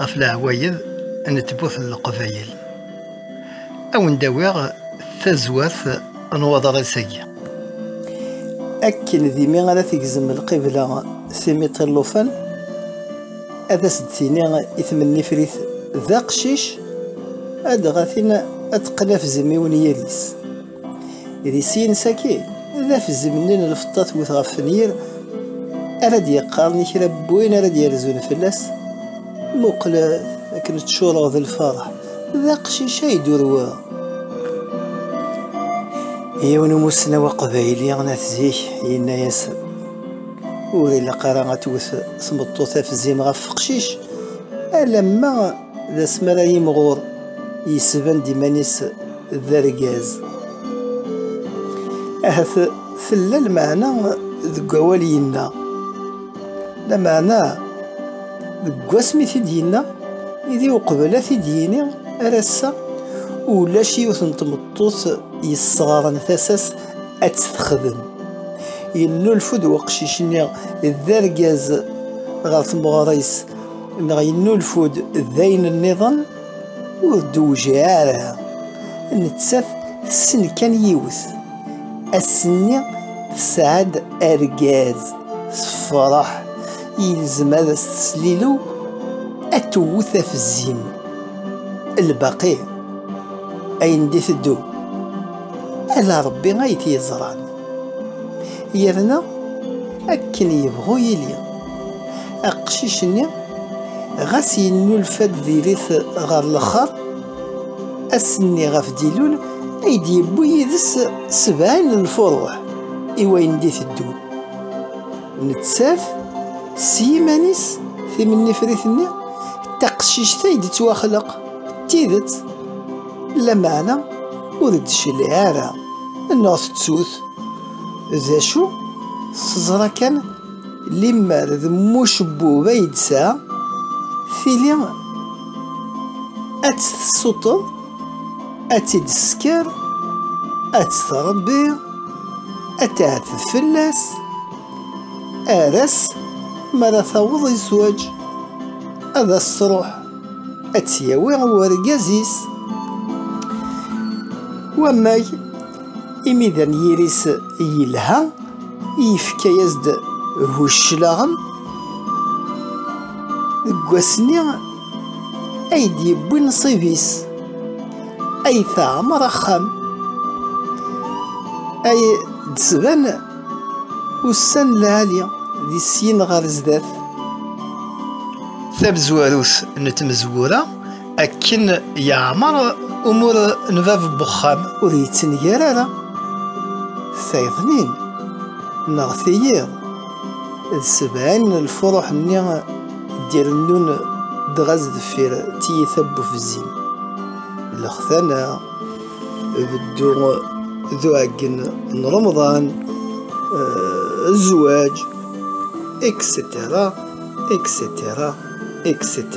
ɣef leɛwayed n tmurt n Leqbayel. Ad wen-d-awiɣ tazwert n waḍris-agi. Akken d imi ara tegzem lqibla timiṭ n llufan, ad as-d-tini i tmennifrit d aqcic, ad dɣa tin ad teqqen afzem i unyir-is. Di sin saki, d afzemni n lfeṭṭa twet ɣef wenyir ara d-yeqqaren i kra n win ara d-yerzun fell-as, Muqlet akken ččureɣ d lferḥ, d aqcic ay d-urweɣ. Yiwen n umussnaw aqbayli n at zik yenna-as, Ur ilaq ara ad twet tmeṭṭut afzim ɣef uqcic alamma d asmi ara yimɣur yesban-d iman-is d argaz. Ahat tella lmeɛna deg awal yenna. Lameɛna deg wasmi i t-id-yenna, idi uqbel ad t-id-yini ar ass-a ulac yiwet n tmeṭṭut yesseɣren tasa-s ad tt-texdem. Yennulfu-d weqcic-nni d argaz ɣer tmeɣra-is neɣ yennulfu-d d ayen nniḍen ur d-tewjiɛ ara nettat tessen kan yiwet ass-nni tesɛa-d argaz tefreḥ yelzem ad as-teslilu ad tewwet afezzim lbaqi ayen d-iteddu ala Rebbi ay t-yeẓran. Yerna akken yebɣu yili, aqcic-nni ɣas yennulfa-d diri-t ɣer lexxer, ass-nni ɣef d-ilul ay d-yewwi yid-s sebɛin n lfuruḥ i wayen d-iteddun. Nettat s yiman-is timennifrit-nni d taqcict ay d-tettwaxleq d tidet. Lameɛna ur d-tecliɛ ara neɣ tettut d acu teẓra kan limmer d mucebbub ay d-tesɛa tili ad tt-tessuṭeḍ ad tt-id-tesker ad tt-tṛebbi ad tɛeteb fell-as ar ass mi ara taweḍ i zzwaǧ ad as-tṛuḥ ad tt-yawi i urgaz-is. Wammag, imi d anyir-is yelha, yefka-as-d bu cclaɣem. Deg wass-nni ay d-yewwi nnṣib-is, ay teɛmer axxam, ay d-tban Ussan lɛali di syin ɣer zdat. Tamezwarut n tmezwura akken yeɛmer umur n bab n wexxam. Ur yettenger ara tayḍnin neɣ tiyiḍ d sebɛin n lfuruḥ-nni d-irennun dɣa sdeffir tiyita n ufzim, lextana, beddu d uɛeggen n Remḍan zzwaǧ etc etc etc